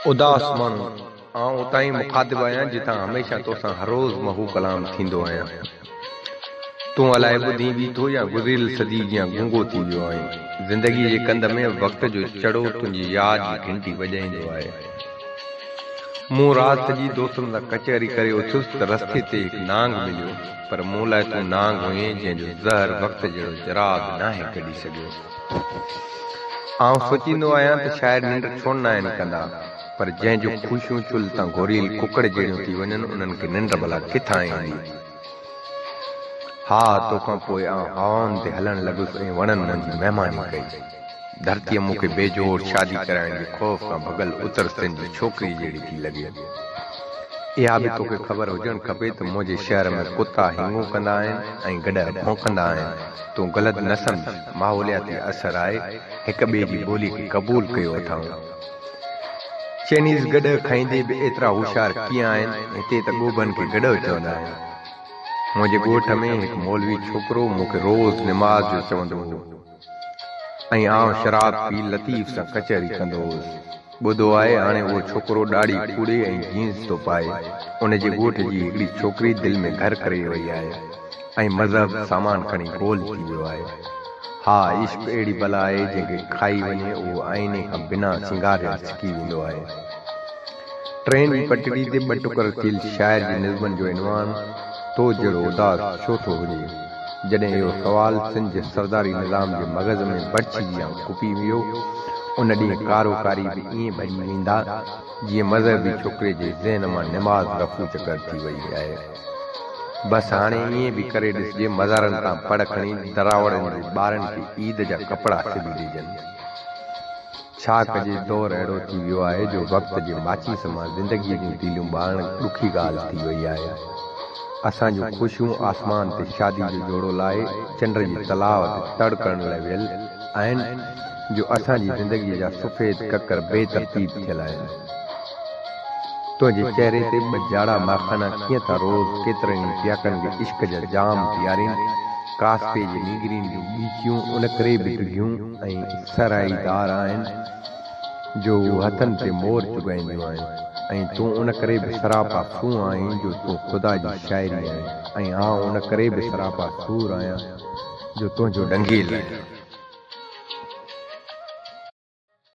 اداس ماڻهو، آئون اتان ئي مخاطب آهيان جتان هميشه تو سان هروز محو ڪلام ٿيندو آهيان. تون الائي ٻڌين به ٿو يا گذريل صدي جيان گونگو ٿي ويو آهين. زندگيء جي ڪنڌ ۾ وقت جو چڙو تنهنجي ياد جي گهنٽي وڄائيندو آهي. مون رات سڄي دوستن سان ڪچهري ڪري اٿيس ته رستي تي هڪ نانگ مليو. پر مون لاء تون نانگ هئين جنهن جو زهر وقت جهڙو چراغ ناهي ڪڍي سگهيو. آئون سوچيندو آهيان ته شاعر ننڊ ڇو ناهن ڪندا پر جنهن جون خوشيون چلهه تان گوريل ڪڪڙ جهڙيون ٿي وڃن انهن کي ننڊ ڀلا ڪٿان ايندي. ها توکان پوء آئون هوائن تي هلڻ لڳس ۽ وڻن منجهه مهماني ڪئي. ڌرتيء مون کي بي جوڙ شادي ڪرائڻ جي خوف کان ڀڳل اتر سنڌ جي ڇوڪريء جهڙي ٿي لڳي. اها به توکي خبر هجڻ کپي ته منهنجي شهر ۾ ڪتا هينگون ڪندا آهن ۽ گڏهه ڀونڪندا آهن. تون غلط نه سمجهه، ماحولياتي اثر آهي، هڪ ٻئي جي ٻولي کي قبول ڪيو اٿائون. چئنيز گڏهه کائيندي به ايترا هوشيار ڪيئن آهن، هتي ته ڳوڀن کي گڏهه چوندا آهن. منهنجي ڳوٺ ۾ هڪ مولوي ڇوڪرو مون کي روز نماز جو چوندو هو. ۽ آئون شراب پي لطيف سان ڪچهري ڪندو هوس. ٻڌو آهي هاڻي اهو ڇوڪرو ڏاڙهي کوڙي ۽ جينز ٿو پائي. ان جي ڳوٺ جي هڪڙي ڇوڪري دل ۾ گهر ڪري وئي آهي ۽ مذهب سامان کڻي گول ٿي ويو آهي. ها عشق اهڙي بلا آهي جنهن کي کائي وڃي اهو آئيني کان بنا سينگاريل سڪي ويندو آهي. ٽين ئي پٽڙي تي ٻه ٽڪر ٿيل شاعر جي نظمن جو عنوان تو جهڙو اداس ڇو ٿو هجي؟ جڏهن اهو سوال سنڌ جي سرداري نظام جي مغز ۾ برڇي جيان ڦوڪي ويو، ان ڏينهن ڪارو ڪاري به ائين ڀڄي ويندا، جيئن مذهبي ڇوڪري جي ذهن مان نماز رفع چڪر ٿي وئي آهي. بس هاڻي ائين به ڪري ڏسجي مزارن تان پڙ کڻي دراوڙن جي ٻارن کي عيد جا ڪپڙا سبي ڏجن. ڇا ڪجي دور اهڙو ٿي ويو آهي جو وقت جي ماچيس مان زندگيء جون تيليون ٻارڻ ڏکي ڳالهه ٿي وئي آهي. اسان جون خوشيون آسمان تي شادي جو جوڙو لاهي چنڊ جي تلاء تي تڙ ڪرڻ لاء ويل آهن جو اسان جي زندگيء جا سفيد ڪڪر بي ترتيب ٿيل آهن. تنهنجي چهري تي ٻه جاڙا ماخانا ڪيئن ٿا روز ڪيترن ئي پياڪن کي عشق جا جام پيارين، ڪاسپي جي نينگرين جون ڳيچيون ان ڪري به ڊگهيون ۽ سرائي دار آهن جو هو هٿن تي مور چگائينديون آهن ۽ تون ان ڪري به سراپا سون آهين جو تون خدا جي شاعري آهين ۽ آئون ان ڪري به سراپا سور آهيان جو تنهنجو ڏنگيل آهيان.